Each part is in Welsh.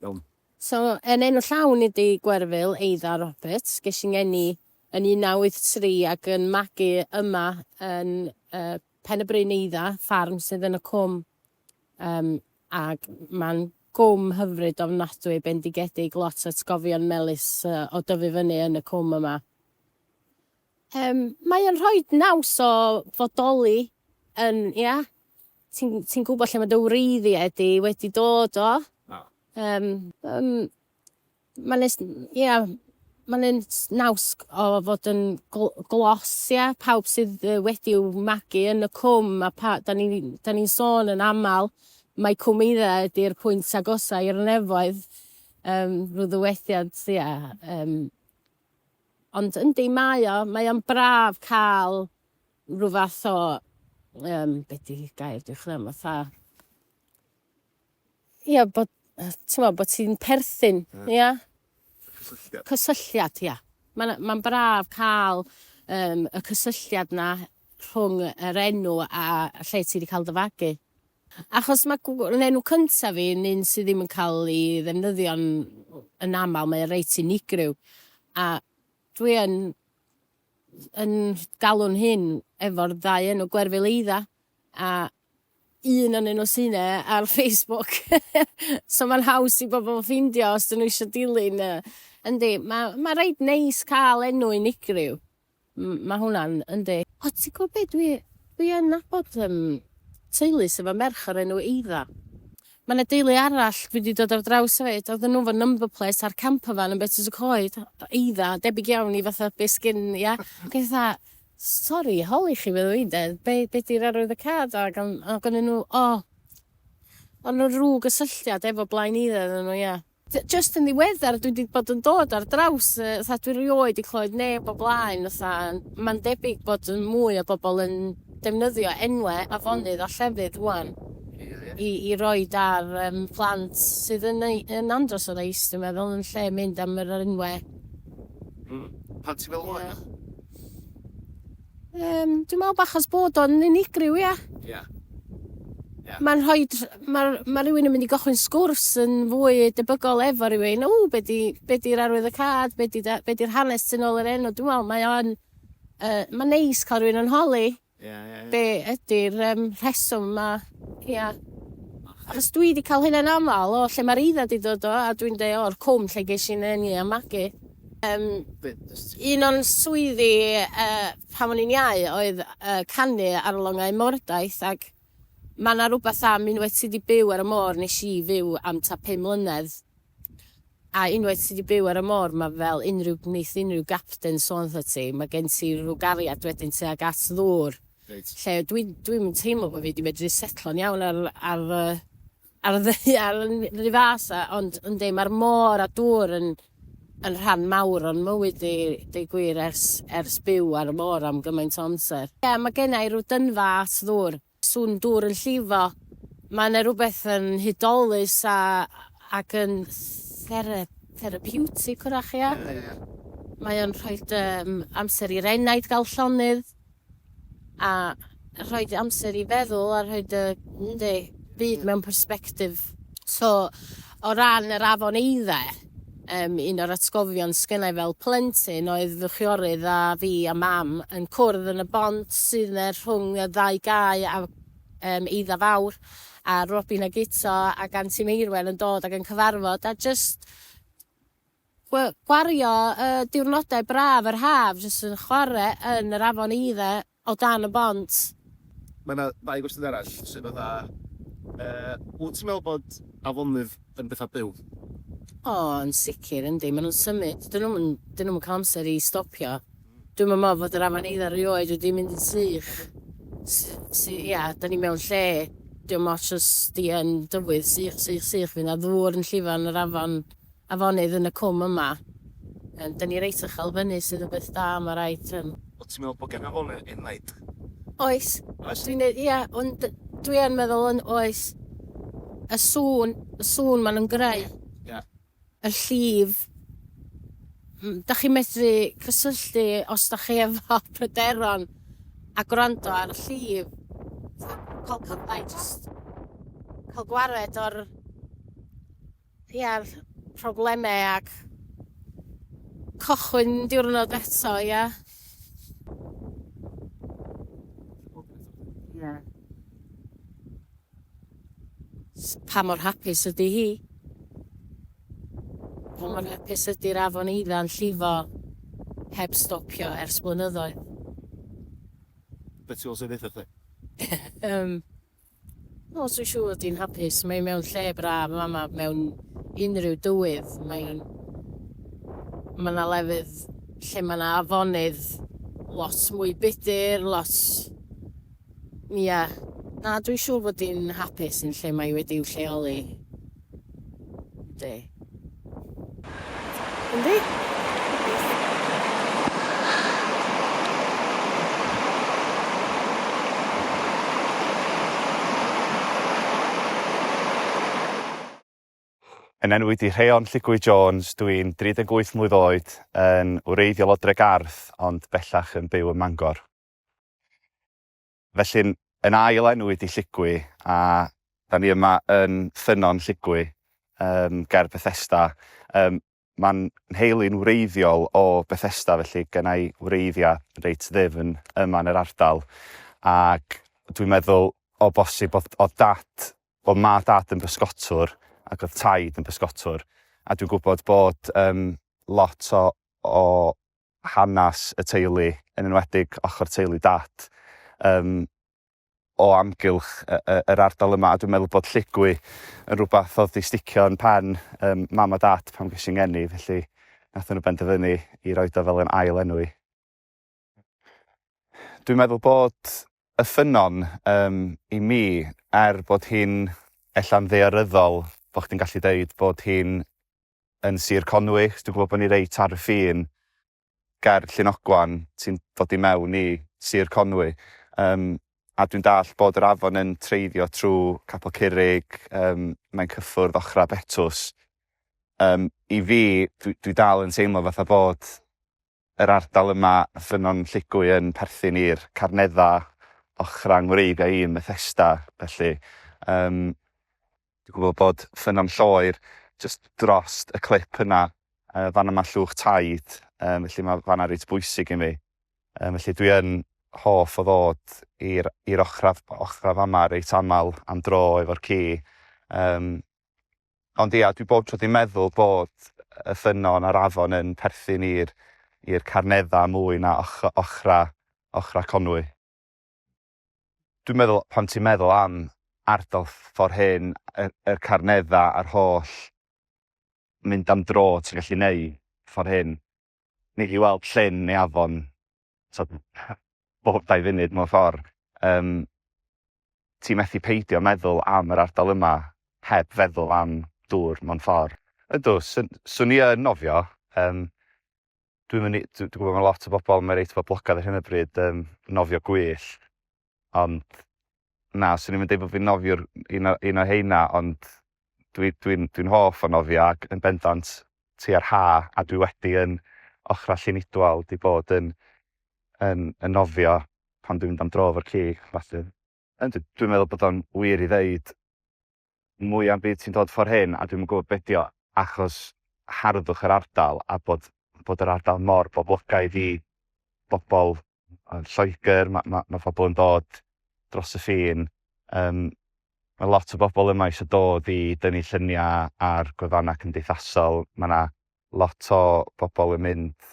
Iawn. So, yn enw llawn ydi Gwerfyl Eidda Roberts. Ges i ngeni yn 1983 ac yn magu yma yn uh, Pen y Bryn Eidda, ffarm sydd yn y cwm. Um, ac mae'n gwm hyfryd ofnadwy, bendigedig, lot o atgofion melus uh, o dyfu fyny yn y cwm yma. Yym, mae o'n rhoi naws o fodoli yn, ia, ti'n ti gwybod lle mae dy wreiddiau di wedi dod o. Oh. Um, um, mae'n nes, ia, mae'n naws o fod yn gl glos, ia, pawb sydd wedi i'w magu yn y cwm, a pa, da ni'n ni, ni sôn yn aml, mae cwm eidda ydy'r pwynt agosau i'r nefoedd, um, rhyw ddywediad, ia, um, Ond yndi, mae o, mae o'n braf cael rhyw fath o, um, be di gair dwi'n chwilio am, fatha... Ia, bod, ti'n bod ti'n perthyn, ia? Yeah. Cysylltiad. Cysylltiad, ia. Mae'n ma braf cael um, y cysylltiad na rhwng yr enw a lle ti wedi cael dy fagu. Achos mae gw- yn enw cyntaf fi yn un sydd ddim yn cael ei ddefnyddio'n yn aml, mae o reit unigryw. A dwi yn yn galw'n hun efo'r ddau enw Gwerfyl Eidda, a un o'n nhw sy'n e ar Facebook. so mae'n haws i bobl ffeindio os dyn nhw eisiau dilyn y... Yndi, mae, mae reit neis cael enw unigryw. Mae hwnna'n, yndi. O ti'n gwybod be dwi, dwi yn nabod yym teulu sydd efo merch o'r enw Eidda. Mae yna deulu arall dwi wedi dod ar draws hefyd, oedden nhw efo number plate ar camper van yn Betws y Coed, Eidda, debyg iawn i fatha be sgyn ia? Ac o'n i fatha, sori holi chi meddwn i de, be be di'r arwydd y card? Ac o'n, ac o'n nhw, o, o'n nhw ryw gysylltiad efo Blaen Eidda oedden nhw ia. Jyst yn ddiweddar dwi 'di bod yn dod ar draws yy fatha dwi rioed 'di clywed neb o blaen fatha yn ma'n debyg bod yn mwy o bobol yn defnyddio enwe afonydd a llefydd ŵan i i roid ar yym plant sydd yn eu yn andros o neis dwi'n meddwl yn lle mynd am yr enwe. Hmm. Pan ti'n meddwl am enw? Yym, dwi'n meddwl bach os bod o'n unigryw, ia. Ia. Ia. Mae'n rhoi... Mae ma rhywun yn mynd i gochwyn sgwrs yn fwy debygol efo rhywun. O, be di, be di'r arwydd y cad? Be di, be di'r hanes tu nôl yr enw? Dwi'n meddwl mae o'n... Uh, mae'n neis cael rhywun yn holi. Ia, ia, ia. Be ydy'r um, rheswm yma? Ia. Achos dwi wedi cael hynna'n aml o lle mae'r eiddo wedi dod o, a dwi'n dweud o'r cwm lle ges i'n eni a magu. Yym un o'n swyddi yy pan o'n i'n iau oedd yy canu ar longau mordaith ac ma' 'na rwbath am unwaith ti 'di byw ar y môr nesh i fyw am t'a pum mlynedd a unwaith ti 'di byw ar y môr ma' fel unrhyw neith unrhyw gapten sôn 'tha ti ma' gen ti rw gariad wedyn tuag at ddŵr. Reit. Lle dwi dwi'm yn teimlo bo' fi 'di medru setlo'n iawn ar ar y Ar y ddaear yn ry fas a ond yndi ma'r môr a dŵr yn yn rhan mawr o'n mywyd i deu gwir ers ers byw ar y môr am gymaint o amser. Ie ma' gennai rw dynfa at ddŵr. Swn dŵr yn llifo. Ma' yna rwbeth yn hudolus a ac yn thera- therapiwtig 'w'rach ia? Ie ie. Mae o'n rhoid yym amser i'r enaid ga'l llonydd. a rhoi dy amser i feddwl a rhoi dy dy byd mewn persbectif. So o ran yr afon Eidde yym un o'r atgofion sgynnai fel plentyn oedd fy chwiorydd a fi a mam yn cwrdd yn y bont sydd yne rhwng y ddau gae a yym Eidda Fawr a Robin a Guto ac Anti Meirwen yn dod ac yn cyfarfod a jyst Gwario y diwrnodau braf yr haf jyst yn chwarae yn yr afon eiddo o dan y bont. Mae yna ddau gwestiwn arall, sef fatha, yy, wyt ti'n meddwl bod afonydd yn bethau byw? O, yn sicr, yndi. Maen nhw'n symud. Dyn nhw'm yn, dyn nhw'm yn cael amser i stopio. Dwi'm yn meddwl fod yr afon eiddo erioed wedi mynd yn sych. S- s- ia, dan ni mewn lle, dio'm ots os di yn dywydd, sych, sych, sych, fydd 'na ddŵr yn llifo yn yr afon. afonydd yn y cwm yma. Yym, 'da ni reit uchel fyny sydd yn beth da, ma' raid, yym. Wt ti'n meddwl bod gen afonydd enaid? Oes. Oes? Dwi'n dweud ia, ond dwi yn meddwl yn oes. Y sŵn, y sŵn maen nhw'n greu. Ia. Y llif. M- 'da chi'n medru cysylltu os 'da chi efo pryderon a gwrando ar y llif. Fatha cael cyfle i jyst cael gwared o'r Ia, probleme ac cochwyn diwrnod eto, ia. Ia. Pa mor hapus ydi hi? Pa mor hapus ydi'r afon eidda'n llifo heb stopio ers blynyddoedd? Be ti fel sy'n ddeutha chdi? Yym. O swyn siŵr di'n hapus, mae mewn lle braf mama mewn unrhyw dywydd, mae'n ma na lefydd lle ma na afonydd lot mwy budur lot ia na dwi'n siŵr fod di'n hapus yn lle mae wedi'w lleoli. Yndi. Yndi. Yn enw i Rheon Lligwy Jones, dw i'n 38 mlwydd oed, yn wreiddiol o Dregarth ond bellach yn byw ym Mangor. Felly'n yn ail enw ydi Lligwy a da ni yma yn Ffynnon Lligwy um, ger Bethesda. Um, Mae'n nheulu'n wreiddiol o Bethesda felly gen i wreiddiau reit ddefn yma yn yr ardal ac dwi'n meddwl o bosib oedd, oedd dad, oedd ma dad yn bysgotwr ac oedd taid yn bysgotwr a dwi'n gwybod bod um, lot o, o hanes y teulu, yn enwedig ochr teulu Dad, yym, o amgylch yr ardal yma, a dwi'n meddwl bod Llugwy yn rhywbeth oedd wedi sticio yn pen um, mam a dad pan ges i'n geni, felly nath nhw benderfynu i roi do fel yn ail enw i. Dwi'n meddwl bod y ffynon um, i mi, er bod hi'n ella'n ddearyddol bod chdi'n gallu deud bod hi'n yn Sir Conwy, achos dwi'n gwybod bod ni reit ar y ffin ger Llunogwan, ti'n dod i mewn i Sir Conwy. Um, a dwi'n dall bod yr afon yn treiddio trwy Capel Curig, um, mae'n cyffwrdd ochrau Betws. Um, I fi, dwi, dwi dal yn teimlo fatha bod Yr ardal yma, Ffynnon Lligwy, yn perthyn i'r Carneddau ochrau 'ng wreiddiau i yn Methesda, felly yym dwi'n gwybod bod Ffynnon Lloer jyst drost y clip yna, yy fan yma llwch taid, yym felly mae fan'na reit bwysig i mi. Yym felly dwi yn hoff o ddod i'r i'r ochrau ochrau fama reit aml am dro efo'r ci, yym Ond ia, dwi bob tro 'di meddwl bod y ffynnon a'r afon yn perthyn i'r i'r Carneddau mwy na och- ochra ochra Conwy. Dwi'n meddwl, pan ti'n meddwl am ardal ffor hyn, y yr Carneddau a'r holl mynd am dro ti'n gallu neud ffor hyn, ni i weld llyn neu afon t'od bob dau funud mewn ffordd. Yym ti methu peidio meddwl am yr ardal yma heb feddwl am dŵr mewn ffordd. Ydw, swn, swn i yn nofio. Yym dwi'n mynd i, dwi'n gwybod mae lot o bobl, mae reit boblogaidd ar hyn o bryd, um, nofio gwyllt. ond na, swn i'm yn deud bod fi'n nofio'r un o, un o heina, ond dwi, dwi'n, dwi'n hoff o nofio ac yn bendant tua'r ha, a dwi wedi yn ochrau Llunidwal di bod yn, yn, yn nofio pan dwi'n mynd am dro efo'r ci, felly. Yndw, dwi'n meddwl bod o'n wir i ddeud mwy am byd sy'n dod ffor hyn a dwi'm yn gwybod be dio achos harddwch yr ardal a bod bod yr ardal mor boblogaidd i bobl yn Lloegr, mae ma, ma pobl yn dod dros y ffin, um, mae lot o bobl yma eisiau dod i dynnu lluniau ar gwefannau cymdeithasol, mae yna lot o bobl yn mynd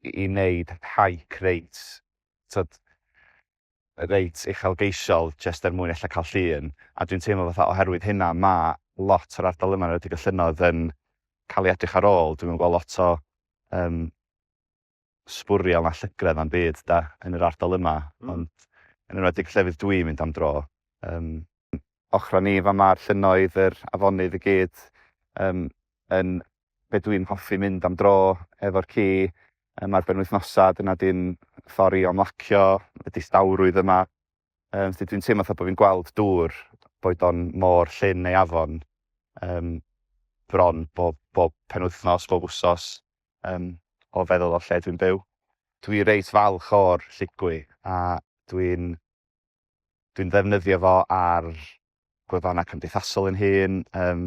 i wneud hike reit, tibod, reit uchelgeisiol jyst er mwyn ella cael llun, a dwi'n teimlo fatha oherwydd hynna mae lot o'r ardal yma, yn enwedig y llynnoedd, yn cael ei edrych ar ôl. Dwi'm yn gweld lot o um, sbwriel na llygredd na'm byd da, yn yr ardal yma, mm. ond yn enwedig llefydd dwi'n mynd am dro, um, ochrau ni, fama a'r llynnoedd, yr afonydd i gyd, yym, yn be dwi'n hoffi mynd am dro efo'r ci, yym, ar benwythnosau, dyna di'n ffordd i ymlacio y distawrwydd yma. Yym, felly dwi'n teimlo fatha bod fi'n gweld dŵr, boed o'n môr, llyn neu afon, yym, bron bob, bob penwythnos, bob wsos, yym, o feddwl o lle dwi'n byw. Dwi reit falch o'r lligwy a dwi'n Dwi'n ddefnyddio fo ar gwefannau cymdeithasol yn hun, um,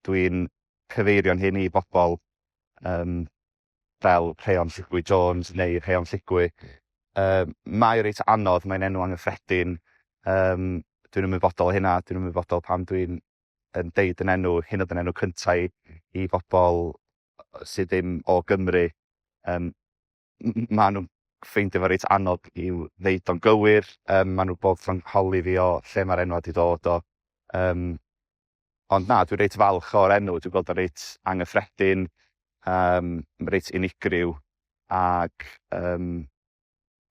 dwi'n cyfeirio'n hyn i bobl um, fel Rheon Lligwy Jones neu Rheon Lligwy. Um, mae reit anodd, mae'n enw anghyffredin, um, dwi'n ymwybodol o hynna, dwi'n ymwybodol pan dwi'n yn deud yn enw, hyn oedd yn enw cyntaf i, i bobl sydd ddim o Gymru. Um, maen nhw'n ffeindio fo reit anodd i'w ddeud o'n gywir, um, maen nhw bob tro'n holi fi o lle mae'r enwau wedi dod o. Um, ond na, dwi'n reit falch o'r enw, dwi'n gweld o'n reit angyffredin, um, reit unigryw, ac um,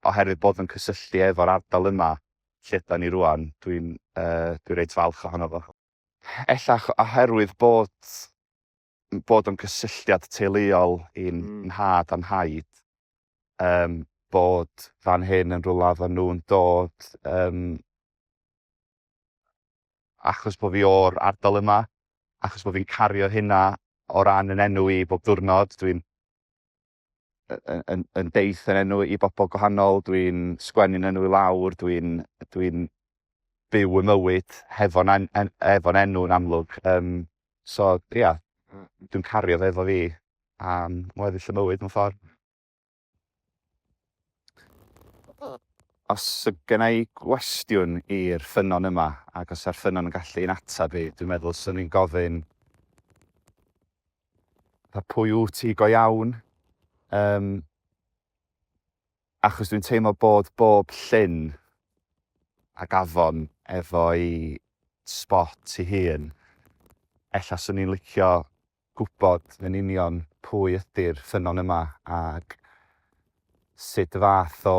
oherwydd bod yn cysylltu efo'r ardal yma lle da ni rwan, dwi'n uh, dwi reit falch ohono fo. Ella oherwydd bod bod o'n cysylltiad teuluol i'n nhad a nhaid, um, bod fan hyn yn rhywle oedden nhw'n dod um, achos bod fi o'r ardal yma, achos bod fi'n cario hynna o ran yn enw i bob diwrnod, dwi'n yn, yn, yn deith yn enw i bobl gwahanol, dwi'n sgwennu'n enw i lawr, dwi'n dwi byw y mywyd hefo'n en, en, efo enw yn amlwg. Um, so, ia, yeah, mm. dwi'n cario fe efo fi am weddill y mywyd mewn ffordd. Os y gyna i gwestiwn i'r ffynon yma, ac os yw'r ffynon yn gallu yn atab i, dwi'n meddwl sy'n ni'n gofyn Fatha pwy wyt ti go iawn? Yym, achos dwi'n teimlo bod bob llyn ac afon efo'i sbot ei hun. Ella 'swn i'n licio gwybod yn union pwy ydi'r ffynnon yma ac sut fath o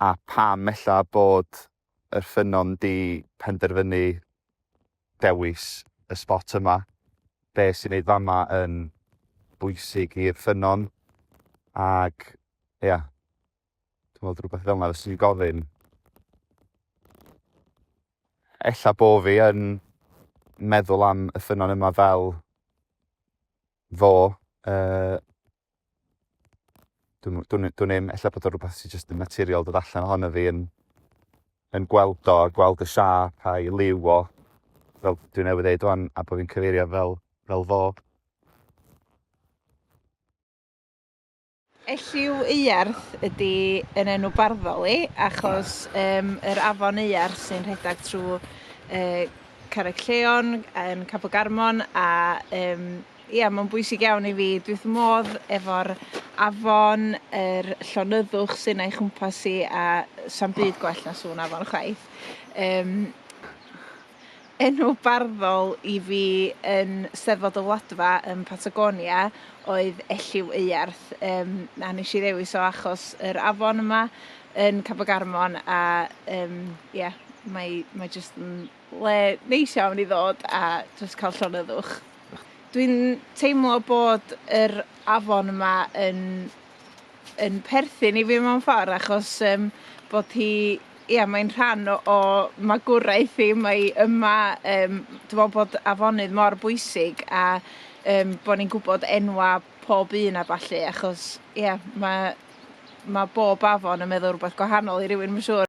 a pam ella bod yr ffynnon 'di penderfynu dewis y sbot yma, be sy'n neud fama yn bwysig i'r ffynnon, ag ia, dwi'n meddwl rhywbeth fel yna fyswn i'n gofyn. Ella bo fi yn meddwl am y ffynnon yma fel fo, uh, Dwi'n, dwi'n, dwi'n ddim, efallai bod o rhywbeth sy'n just yn naturiol dod allan ohono fi yn, yn gweld o, gweld y siap a'i liw o, fel dwi'n newydd ddeud o'n, a bod fi'n cyfeirio fel, fel fo. Elliw Euarth ydy yn enw barddol i, achos um, yr afon Euarth sy'n rhedeg trwy uh, Carreg Lleon yn Cabo Garmon a um, Ia ma'n bwysig iawn i fi dwi wrth modd efo'r afon yr llonyddwch sy'n a'i chwmpas i a sa'm byd gwell na sŵn afon chwaith. Yym enw barddol i fi yn Steddfod y Wladfa yn Patagonia oedd Elliw Euarth yym a nesh i ddewis o achos yr afon yma yn Cap y Garmon a yym ia mae mae jyst yn Le neis iawn i ddod a jyst cael llonyddwch. Dwi'n teimlo bod yr afon yma yn yn perthyn i fi mewn ffordd achos um, bod hi ia mae'n rhan o, o magwraeth i mae yma um, dwi'n meddwl bod afonydd mor bwysig a um, bod ni'n gwybod enwa pob un a ballu achos ia mae mae bob afon yn meddwl rhywbeth gwahanol i rywun mae'n siŵr.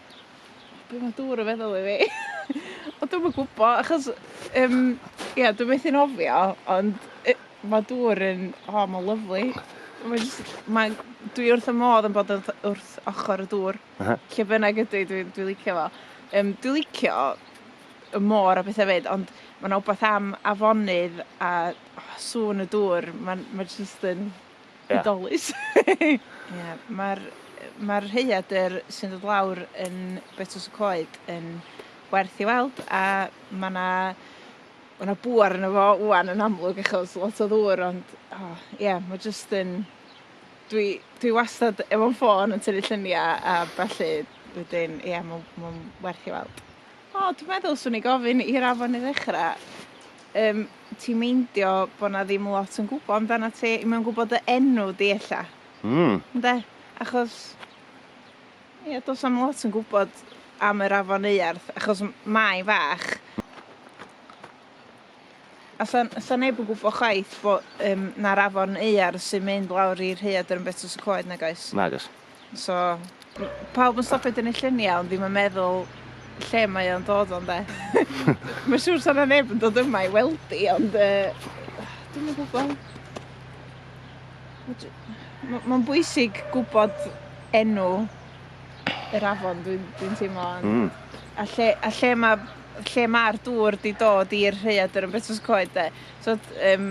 Be mae dŵr yn feddwl i fi? O dwi'm yn gwbo achos yym ia dwi methu nofio ond yy ma' dŵr yn o ma'n lyfli. Mae jyst mae'n dwi wrth fy modd yn bod wrth wrth ochor y dŵr. Aha. Lle bynnag ydw i dwi dwi licio fo. Yym dwi licio y môr a pethe 'fyd ond ma' 'na wbath am afonydd a o sŵn y dŵr ma'n ma' jyst yn Ie. Hudolus. Ie, mae'r mae'r rhaeadr sy'n dod lawr yn Betws y Coed yn werth i weld, a mae yna mae yna bŵer arno fo ŵan yn amlwg achos lot o ddŵr, ond o, ie, mae jyst yn... Dwi, dwi wastad efo'n ffôn yn tynnu lluniau a ballu, wedyn, ie, mae'n ma werth i weld. O, dwi'n meddwl swn i gofyn i'r afon i ddechrau. Um, ti'n meindio bod na ddim lot yn gwybod amdana ti, i mewn gwybod dy enw di ella. Mm. Ynde? Achos, ie, dos am lot yn gwybod am yr afon Euarth, achos mae'n fach. Allan, allan neb yn gwybod chwaith fo, um, na'r afon neuar sy'n mynd lawr i rhaead yn Betws y Coed, nag oes? Nag oes. So, pawb yn stopio dyn y lluniau, ond ddim yn meddwl lle mae o'n dod o'n de. Mae'n siŵr sa'n neb yn dod yma i weld i, ond uh, dwi'n gwybod. Mae'n bwysig gwybod enw yr afon, dwi'n dwi teimlo. Mm. A lle, a lle mae lle ma'r dŵr 'di dod i'r rhaeadr yn Betws y Coed 'de. T'od yym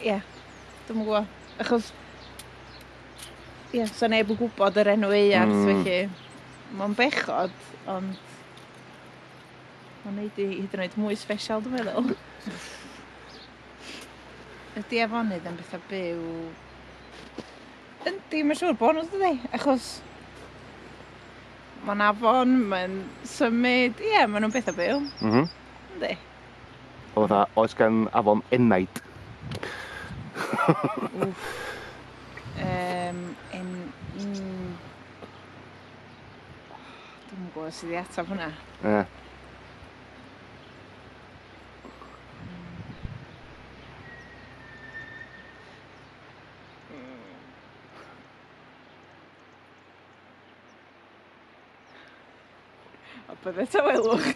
ie dwi'm yn gwbo achos ie sa neb yn gwbod yr enw aearth mm. felly ma'n bechod ond ma'n neud i hyd yn oed mwy sbesial dwi'n meddwl. Ydy afonydd yn bethau byw? Yndi, mae'n siŵr bod nhw dydi? Achos Mae'n afon, mae'n symud, ie, maen nhw'n bethau byw. Mhm. Mm Yndi. O dda, oes gan afon enaid? Wff. Um, en... Mm. Dwi'n yn gwybod sydd i ataf hwnna. Ie. Yeah. A bydde tawelwch.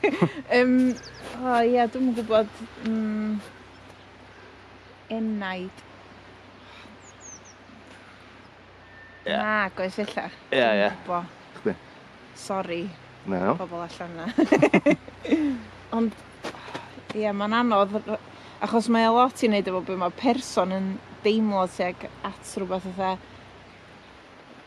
um, o oh, ia, dwi'n gwybod. Um, enaid. Yeah. Na, goes illa. Ie, yeah, ie. Yeah. Chdi. Sori. Na. No. Pobl allan na. Ond, ie, yeah, mae'n anodd, achos mae lot i wneud efo beth mae person yn deimlo tuag at rhywbeth fatha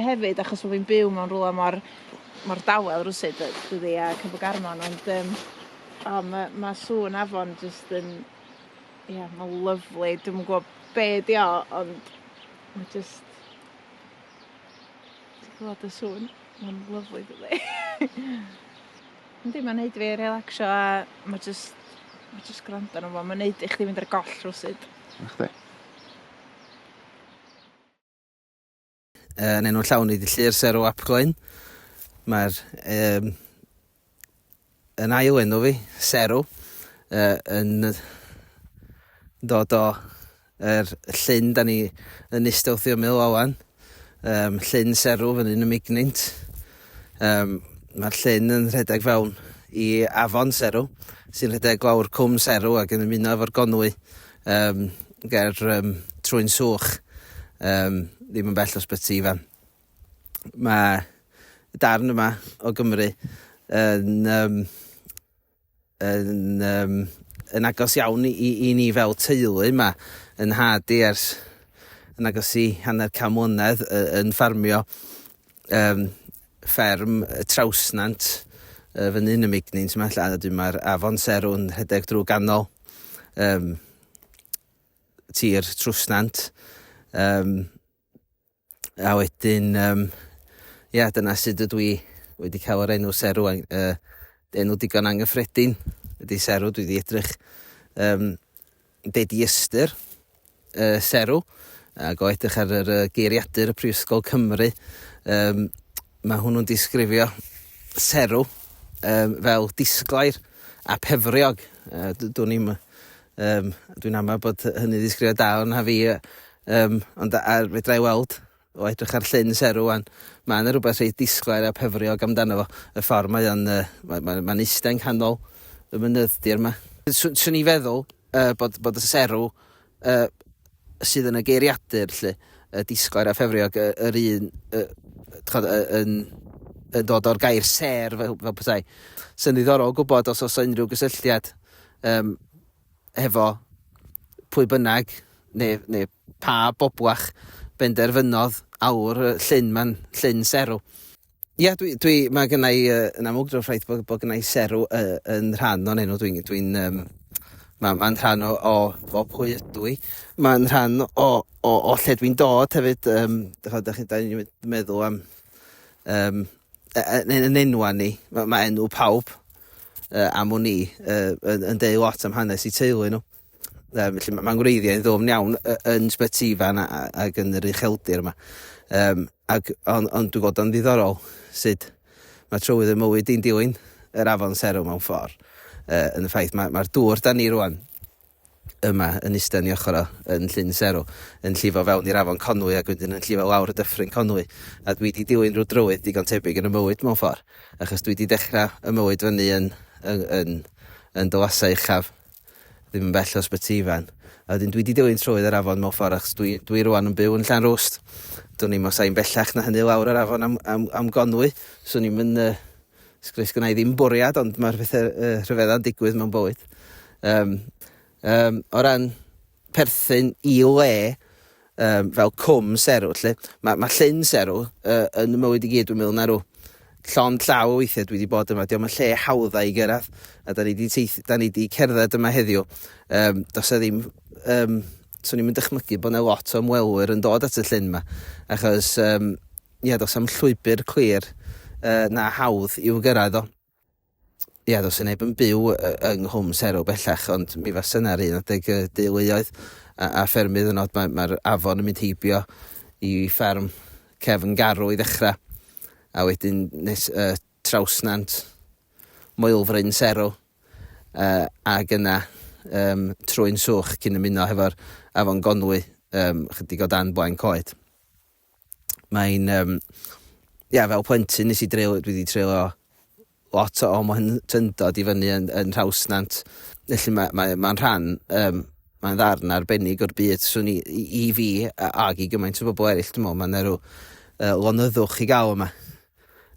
hefyd achos bo' fi'n byw mewn rwla mor mor dawel rywsut yy dydi a Cefn Garmon ond yym o ma' ma' sŵn afon jyst yn ia ma'n lyfli dwi'm yn gw'o' be' 'di o ond ma' jyst ti clŵad y sŵn ma'n lyfli dydi? Yndi ma'n neud fi relacsio a ma' jyst ma' jyst gwrando arno fo ma'n neud i chdi mynd ar goll rywsut. Nachdi? Uh, yn enw'r llawn i ddillu'r sero ap gloen. Mae'r um, yn ail enw fi, sero, uh, yn dod o yr llyn da ni yn istewthio mil awan, um, llyn serw fan hyn y mignint. Um, Mae'r llyn yn rhedeg fewn i afon serw, sy'n rhedeg lawr cwm serw ac yn ymuno efo'r gonwy Yym, ger um, Trwy'n Swch, um, ddim yn bell o Sbyty Ifan. Mae y darn yma o Gymru yn, um, yn, um, yn agos iawn i, i ni fel teulu yma yn had i ers yn agos i hanner cam mlynedd yn ffarmio um, fferm y Trawsnant uh, fyny yn y Mignins yma, lle a dwi mae'r afon Serw'n rhedeg drwy ganol um, tir trwsnant. Um, a wedyn, um, ia, yeah, dyna sydd ydw i wedi cael yr enw serw, uh, enw digon anghyffredin ydy serw, dwi wedi edrych um, be di ystyr, y serw ac o edrych ar yr geiriadur y Prifysgol Cymru, um, mae hwnnw'n disgrifio serw um, fel disglair a pefriog. Uh, Dwi'n i'm... Um, dwi'n amau bod hynny ddisgrifio da o'n ha fi, um, ond ar fedra i weld O edrych ar Llyn Serw ŵan, mae yna rhywbeth reit disglair a phefriog amdano fo. Y ffordd mae o'n... Uh, mae'n ma, ma eistedd yng nghanol y mynydddir yma. Swn i'n feddwl uh, bod, bod y serw uh, sydd yn y geiriadur, lle, y disglair a phefriog, uh, yr un uh, tchod, uh, yn, yn dod o'r gair ser fel, fel petai. Sy'n ddiddorol gwybod os oes unrhyw gysylltiad um, hefo pwy bynnag neu neu pa boblach benderfynodd alw'r yy llyn 'ma'n llyn serw. Ia dwi dwi ma' gynna' i yy yn amlwg drwy'r ffaith bod bod gynna' i serw y- yn rhan o'n enw dwi'n dwi'n yym ma' ma'n rhan o o o pwy ydw i. Ma'n rhan o o o lle dwi'n dod hefyd yym dych ch'mod dach chi 'dan ni'n meddwl am yym yn yn yn enwa ni, ma' ma' enw pawb yy am wn i yy yn yn deud lot am hanes 'u teulu nhw. Yym felly ma' ma'n wreiddiau'n ddwfn iawn y- yn Sbyty Ifan a- a- ag yn yr ucheldir yma. Yym ac on' ond dwi gweld o'n ddiddorol sud ma' trywydd y mywyd 'di'n dilyn yr afon Seru mewn ffor yy yn y ffaith ma' ma'r dŵr 'dan ni rŵan yma yn iste yn ei ochr o, yn Llyn Serw, yn llifo fewn i'r afon Conwy ac wedyn yn llifo lawr y dyffryn Conwy, a dwi 'di dilyn rhyw drywydd digon tebyg yn 'y mywyd mewn ffordd, achos dwi 'di dechra 'y mywyd fyny yn yn yn yn Dylasau Uchaf, ddim yn bell o Ysbyty Ifan, a wedyn dwi 'di dilyn trywydd yr afon mewn ffordd achos dwi dwi rŵan yn byw yn Llanrwst, dwn i'm os ai'n bellach na hynny lawr yr afon am am am Gonwy, swn i'm yn yy Sgri- Sgynna i ddim bwriad ond mae'r pethau yy rhyfedda'n digwydd mewn bywyd. Yym yym o ran perthyn i le yym fel cwm serw 'lly ma' ma' llyn serw yy yn 'y mywyd i gyd dwi'n meddwl 'na rw llond llaw o weithiau dwi 'di bod yma 'di o'm yn lle hawdda i gyrraedd a 'dan ni 'di teith- 'dan ni 'di cerdded yma heddiw yym do's 'na ddim yym 'swn i'm yn dychmygu bo' 'na lot o ymwelwyr yn dod at y llyn 'ma achos yym Ia, does am llwybr clir na hawdd i'w gyrraedd o. Ia, does neb yn byw yng Nghwm Serw bellach, ond mi fas yna'r un adeg y deuluoedd a, a ffermydd yn od. Mae'r mae afon yn mynd heibio i fferm cefn garw i ddechrau, a wedyn nes uh, trawsnant Moelfryn Serw, uh, ac yna um, trwy'n swch cyn ymuno hefo'r afon Gonwy um, chydig o dan blaen coed. mae'n, um, ia, fel plentyn nes i dreulio, dwi wedi treulio lot o mo'n tyndod i fyny yn, yn Rhawsnant. Felly mae'n mae, mae rhan, um, mae'n ddarn arbennig o'r byd. Swn i, i, i fi, ag i gymaint o bobl eraill, dwi'n meddwl, mae'n erw uh, lonyddwch i gael yma.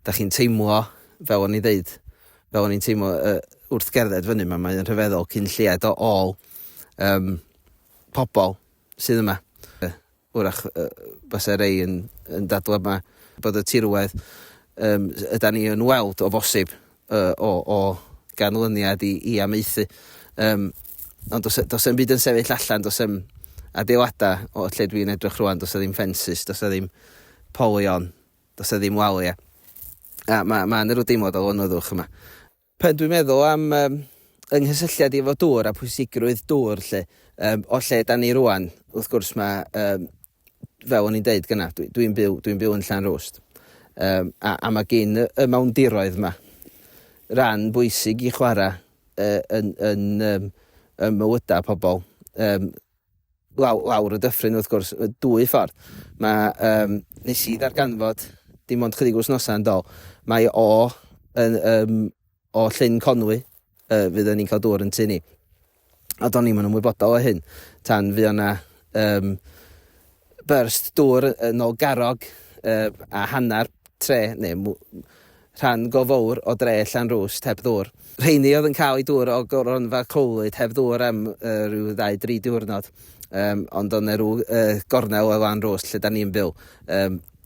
Da chi'n teimlo, fel o'n i ddeud, fel o'n i'n teimlo uh, wrth gerdded fyny yma, mae'n rhyfeddol cyn lled o ôl um, pobl sydd yma. Wrach basai rhai yn dadlau mai bod y tirwedd yda ni yn weld o fosib o ganlyniad i amaethu. Ond does e'm byd yn sefyll allan, does e'm adeiladau o lle dwi'n edrych rwan, does e ddim ffensys, does e ddim polion, does e ddim waliau. A mae yna rhyw deimlad o lonyddwch yma. Pan dwi'n meddwl am um, yng nghysylltiad i efo dŵr a pwysigrwydd dŵr, lle, um, o lle da ni rwan, wrth gwrs mae, um, fel o'n i'n deud gyna, dwi'n dwi byw, dwi byw yn Llan Rwst, um, a, a mae gen y mawndiroedd yma ran bwysig i chwarae uh, yn, yn um, ym mywydau pobl. Um, law, lawr y dyffryn wrth gwrs, y dwy ffordd. Mae, um, nes i ddarganfod dim ond chydig wythnosau yn dol, mae o yn, um, o Llyn Conwy, uh, fydd ni'n cael dŵr yn tu ni. A do'n ni'n ymwybodol o hyn, tan fydd yna um, Burst dŵr yn ol garrog a hanner tre neu rhan go fowr o dre Llanrwst heb ddŵr. Rheiny oedd yn cael eu dŵr o gronfa Clwyd heb ddŵr am ryw ddau dri diwrnod ond oedd 'na ryw gornel o Lanrwst lle 'da ni'n byw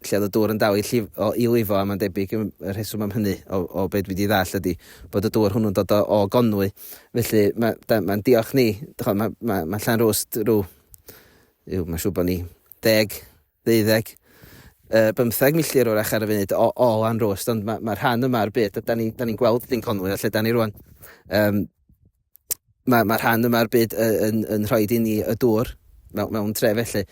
lle oedd y dŵr yn dal i lifo a mae'n debyg y rheswm am hynny o be dwi 'di ddall ydi bod y dŵr hwnnw'n dod o Gonwy felly mae'n diolch ni, mae Llanrwst rhyw Yw, mae'n siŵr bod ni deg, ddeuddeg, uh, bymtheg milltir o'r ar y funud o, o lan rwst, ond mae, mae rhan yma o'r byd, a da ni'n ni, ni gweld dyn Conwy a lle da ni rwan. Um, mae, mae rhan yma o'r byd yn, yn, yn rhoi i ni y dŵr mewn, mewn tre felly.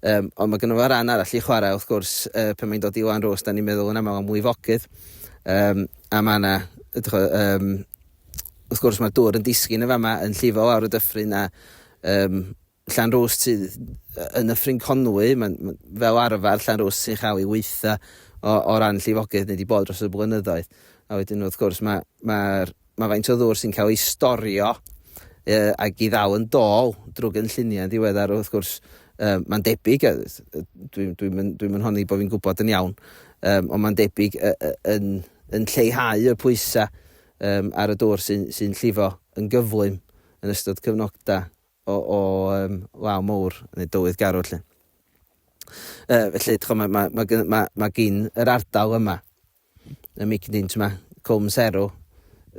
Um, ond mae gynnu fo rhan arall i chwarae, wrth gwrs, uh, pan mae'n dod i lan rwst, da ni'n meddwl yn aml am mwy fogydd. Um, a mae yna, um, wrth gwrs, mae'r dŵr yn disgyn y fama yn llifo lawr y dyffryn a um, Llanrwst sydd yn Nyffryn Conwy, mae'n fel arfer Llanrwst sy'n chael ei weitha o, o ran llifogydd neu di bod dros y blynyddoedd. A wedyn wrth gwrs mae, mae'r, mae faint o ddŵr sy'n cael ei storio e, ac i ddal yn dôl drwy gynlluniau yn ddiweddar wrth gwrs um, mae'n debyg, dwi'n dwi, dwi, dwi yn honni bod fi'n gwybod yn iawn, um, ond mae'n debyg uh, uh, yn, yn lleihau y pwysau um, ar y dŵr sy'n sy llifo yn gyflym yn ystod cyfnogda. o, o um, law mowr, neu dywydd garw, lle. Uh, felly, chwa, mae, mae, mae, mae, mae gyn yr ardal yma, y mic dyn, ti'n ma, Cwm Serw,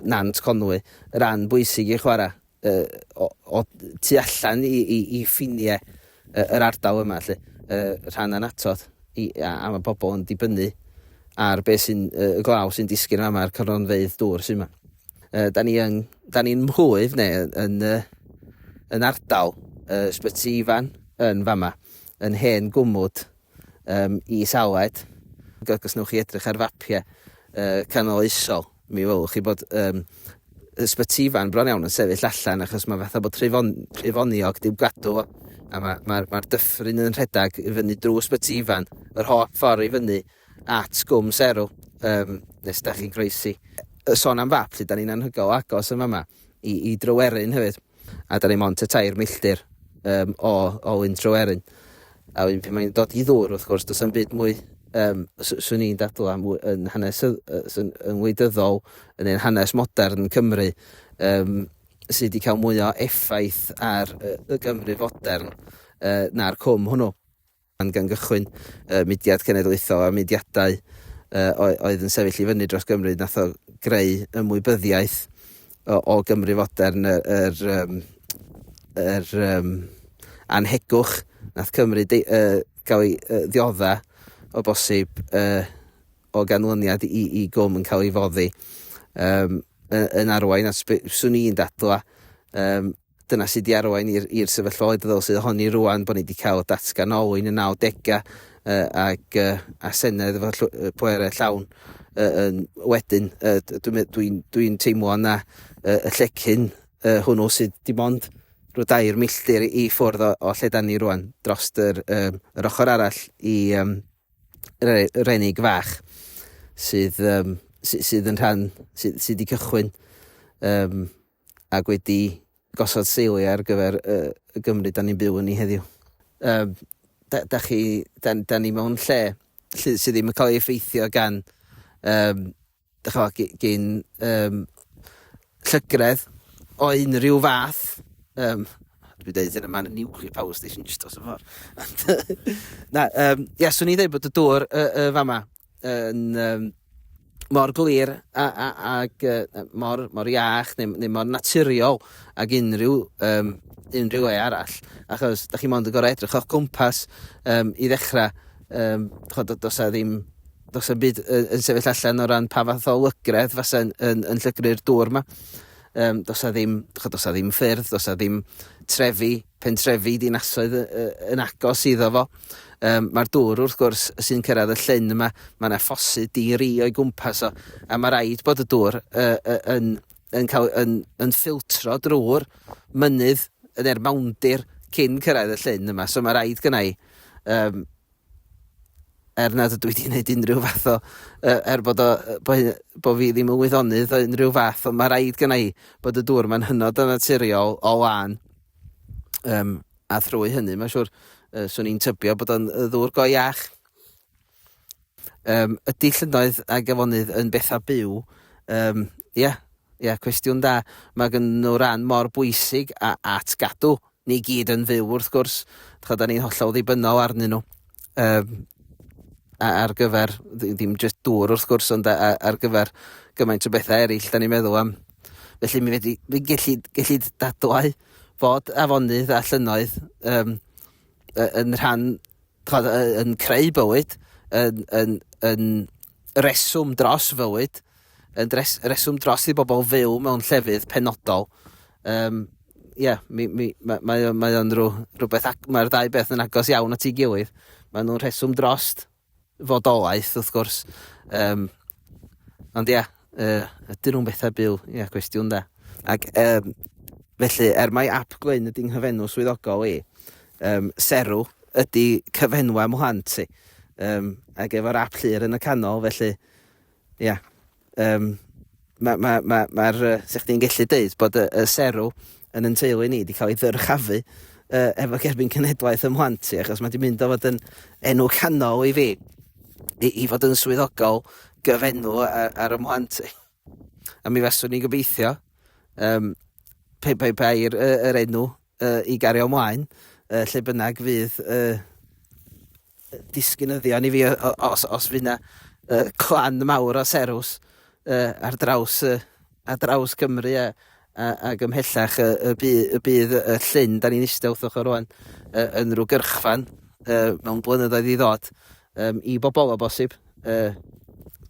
Nant Conwy, ran bwysig i chwarae uh, o, o tu allan i, i, i ffiniau uh, yr ardal yma, lle, uh, rhan anatod, i, a, a mae pobl yn dibynnu ar beth sy'n uh, y glaw sy'n disgyn yma, a'r cronfeidd dŵr sy'n yma. Uh, da ni yn, da ni'n mhwydd neu yn, yn, yn ardal uh, Sbyty Ifan yn fama, yn hen gwmwd um, i Saled. Os newch chi edrych ar fapiau uh, canoloesol, mi welwch chi bod um, Sbyty Ifan bron iawn yn sefyll allan achos mae fatha bod trefon, trefoniog diw gadw fo. A mae'r ma, ma, ma dyffryn yn rhedeg i fyny drwy Sbyty Ifan, yr holl ffordd i fyny at gwm serw yym nes da chi'n croesi. Yy sôn am fap, 'lly, 'dan ni'n anhygoel o agos yn fama i i Dryweryn hefyd, a 'dan ni mond tua tair milltir yym o o Lyn Tryweryn. A wedyn pan mae'n dod i ddŵr, wrth gwrs, does 'na'm byd mwy yym s- swn i'n dadl am w- yn hanes y- y- sy'n yn wleidyddol yn ein hanes modern Cymru yym sy wedi cael mwy o effaith ar y, y Gymru fodern yy na'r cwm hwnnw. Pan gan gychwyn y mudiad cenedlaethol a'r mudiadau oedd yn sefyll i fyny dros Gymru, nath o greu ymwybyddiaeth o, o Gymru fodern, yr, yr, um, yr um, anhegwch, nath Cymru de, uh, gael ei uh, ddiodda o bosib uh, o ganlyniad i, i gwm yn cael ei foddi um, yn arwain at swn i'n dadla um, Dyna sut i arwain i'r i'r sefyllfaoedd ddylse ohoni rwan bod ni wedi cael datgan olwyn y 90au yy ag yy a Senedd efo llw- yy pwerau llawn yy yn wedyn yy d- dwi'n me- dwi'n dwi'n teimlo na yy y llecyn yy hwnnw sydd dim ond rhyw dair milltir i ffwrdd o, o lle dan ni rwan dros yr, yy, yr ochr arall i um, re, Renig Fach sydd, um, sy, sydd yn rhan sydd, sydd wedi cychwyn um, ac wedi gosod seiliau ar gyfer y, y Gymru da ni'n byw yn ei heddiw. Um, da, da, chi, da, da ni mewn lle sydd ddim yn cael ei effeithio gan um, chwa, gyn um, llygredd o unrhyw fath. Um, dwi'n dweud hyn yma'n nuclear power station just os y ffordd. na, um, ia, swn i'n dweud bod y dŵr y, y fama yn um, mor glir a, a, ag uh, mor, mor iach neu, neu mor naturiol ag unrhyw, um, unrhyw le arall. Achos da chi mond yn gorau edrych o'ch gwmpas um, i ddechrau. Um, chod, dos a ddim dos a byd yn, yn sefyll allan o ran pa fath o lygredd fasa yn, yn, yn llygru'r dŵr yma. Yym, does 'na ddim, chimod, does 'na ddim ffyrdd, does 'na ddim trefi, pentrefi dinasoedd yn agos iddo fo. Yym, Mae'r dŵr, wrth gwrs, sy'n cyrraedd y llyn yma, mae yna ffosydd di-ri o'i gwmpas o, a mae rhaid bod y dŵr yn, yn, cael, yn, yn ffiltro drwy'r mynydd yn er mawndir cyn cyrraedd y llyn yma. So mae rhaid gynnau um, er nad ydw i 'di wneud unrhyw fath o... yy, er bod o, yy, bo' hy- bo' fi ddim yn wyddonydd o unrhyw fath, ond ma' raid gynna' i bod y dŵr 'ma'n hynod o naturiol o lân, um, a thrwy hynny mae'n siŵr yy, 'swn i'n tybio bod o'n yy, ddŵr go iach. Um, ydy llynnoedd a gafonydd yn bethau byw? Um, ia, ia, cwestiwn da. Mae gen nhw ran mor bwysig a, at gadw Ni gyd yn fyw, wrth gwrs. Chod, da ni'n hollol ddibynnol arnyn nhw. Um, ar gyfer, ddim jyst dŵr wrth gwrs, ond ar gyfer gymaint o bethau eraill, da ni'n meddwl am. Felly mi wedi, mi gelli, gelli dadlau fod afonydd a llynoedd um, yn rhan, yn creu bywyd, yn, yn, yn, reswm dros fywyd, yn dres, reswm dros i bobl fyw mewn llefydd penodol. Um, ie, yeah, mi, mi, mae, mae, mae o'n rhyw, rhywbeth, mae'r ddau beth yn agos iawn at ei gilydd. Mae nhw'n rheswm drost fodolaeth, wrth gwrs. Um, ond ie, yeah, uh, ydyn nhw'n bethau byw? Ie, yeah, cwestiwn da. Ac um, felly, er mae ap gwyn ydy'n nghyfenw swyddogol i, e, um, serw ydy cyfenwa mhlant ti. Um, ac efo'r ap llir yn y canol, felly, ia, yeah, um, mae'r, ma, ma, ma, ma sech chdi'n gallu dweud bod y, y serw yn yn teulu ni wedi cael ei ddyrchafu uh, efo gerbyn cenedlaeth ym mhlant ti, achos mae wedi mynd o fod yn enw canol i fi, i, i fod yn swyddogol gyfenw ar, ar y mhlant ti. A mi faswn ni'n gobeithio, um, pe, pe, pe, yr, yr enw uh, i gario ymlaen, uh, lle bynnag fydd uh, disgynyddion i fi os, os fydd yna uh, clan mawr o serws uh, ar draws, uh, ar draws Cymru a, a, a gymhellach y, y, bydd, y bydd y llyn, da ni'n eistedd wrthych o'r rwan, uh, yn rhyw gyrchfan uh, mewn blynyddoedd i ddod, Yym, i bobl, o bosib. Yy,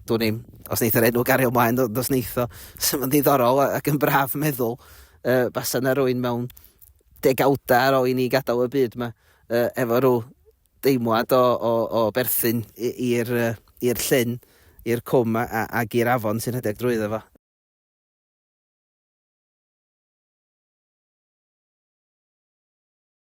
dwn i'm. Os neith yr enw gario ymlaen, ond os neith o, sy'n ma'n ddiddorol ac yn braf meddwl, yy, basa na rwy'n mewn degawda ar ôl i ni gadael y byd yma, yy, efo rhyw deimlad o, o, o berthyn i'r i'r llyn, i'r cwm a, a, ag i'r afon sy'n rhedeg drwyddo fo.